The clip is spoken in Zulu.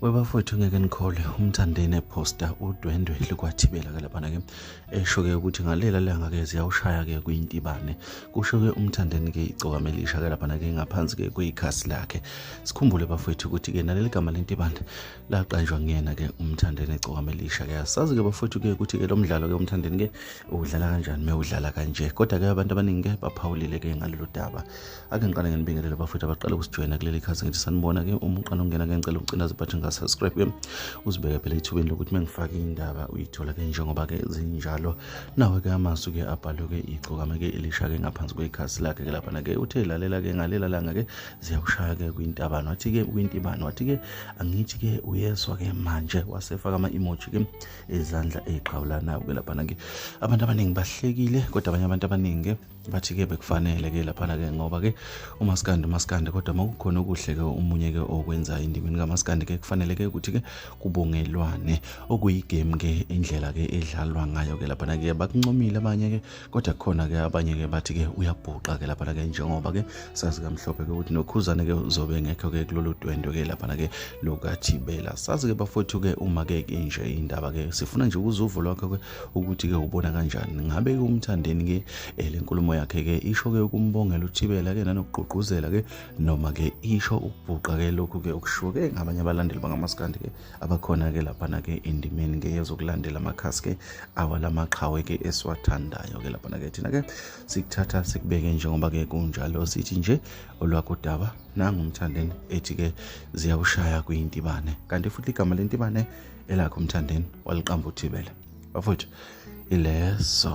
webafowethu ngeke nikholwe umthandeni ephosta udwendwe likwathibela ke laphana ke esho-ke ukuthi ngalela langa ke ziyawushaya-ke kuyintibane kusho-ke umthandeni ke icokamelisha ke laphana ke ngaphansi ke kuyikhasi lakhe sikhumbule bafowethu ukuthi-ke naleli gama lentibane laqanjwa nguyena ke umthandeni ecokamelisha ke asazi ke bafowethu ke ukuthi ke lo mdlalo ke umthandeni ke uwudlala kanjani mewudlala kanje kodwa ke abantu abaningi ke baphawulile ke ngalolu daba ake ngiqale nginibingelele bafowethu abaqale ukusijoyina kuleli khasi ngithi sanibona-ke uma uqala ukungena ke ngicela ukucindaza ibhathi ngasubscribe-ke uzibeke phela ethubeni lokuthi uma ngifake indaba uyithola-ke njengoba-ke zinjalo nawe-ke amasu-ke abhalwe-ke igcokame-ke elisha-ke ngaphansi kwekhasi lakhe-ke laphana-ke uthe lalela-ke ngalela langa-ke ziyakushaya-ke kwintabano wathi-ke kwintibano wathi-ke angithi-ke uyeswa-ke manje wasefaka ama-emoji-ke ezandla ey'qhawulanayo-ke laphana-ke abantu abaningi bahlekile kodwa abanye abantu abaningi-ke bathi ke bekufanele ke laphana ke ngoba ke umaskandi umaskandi kodwa uma kukhona okuhle ke omunye ke okwenza endimeni kamaskandi ke kufanele ke ukuthi ke kubongelwane okuyigame ke indlela ke edlalwa ngayo ke laphana ke bakuncomile abanye ke kodwa khona ke abanye ke bathi ke uyabhuqa ke laphana ke njengoba ke sazi kamhlophe ke ukuthi nokhuzane ke uzobe ngekho ke kulolu dwendo ke laphana ke lokathibela sazi ke bafowethu ke uma ke inje indaba ke sifuna nje ukuzuvo lwakho ke ukuthi ke ubona kanjani ngabe ke umthandeni ke eh, le nkulumo yakhe ke isho ke ukumbongela uthibela ke nanokugqugquzela ke noma ke isho ukubhuqa ke lokhu ke okushiwo ke ngabanye abalandeli bangamaskandi ke abakhona ke lapha na ke endimeni ke yezokulandela amakhasi ke awala maqhawe ke esiwathandayo ke lapha na ke thina ke sikuthatha sikubeke njengoba ke kunjalo sithi nje olwakho daba nangumthandeni ethi ke ziyawushaya kuyintibane kanti futhi igama lentibane elakhe umthandeni waliqamba uthibela bafowethu ileso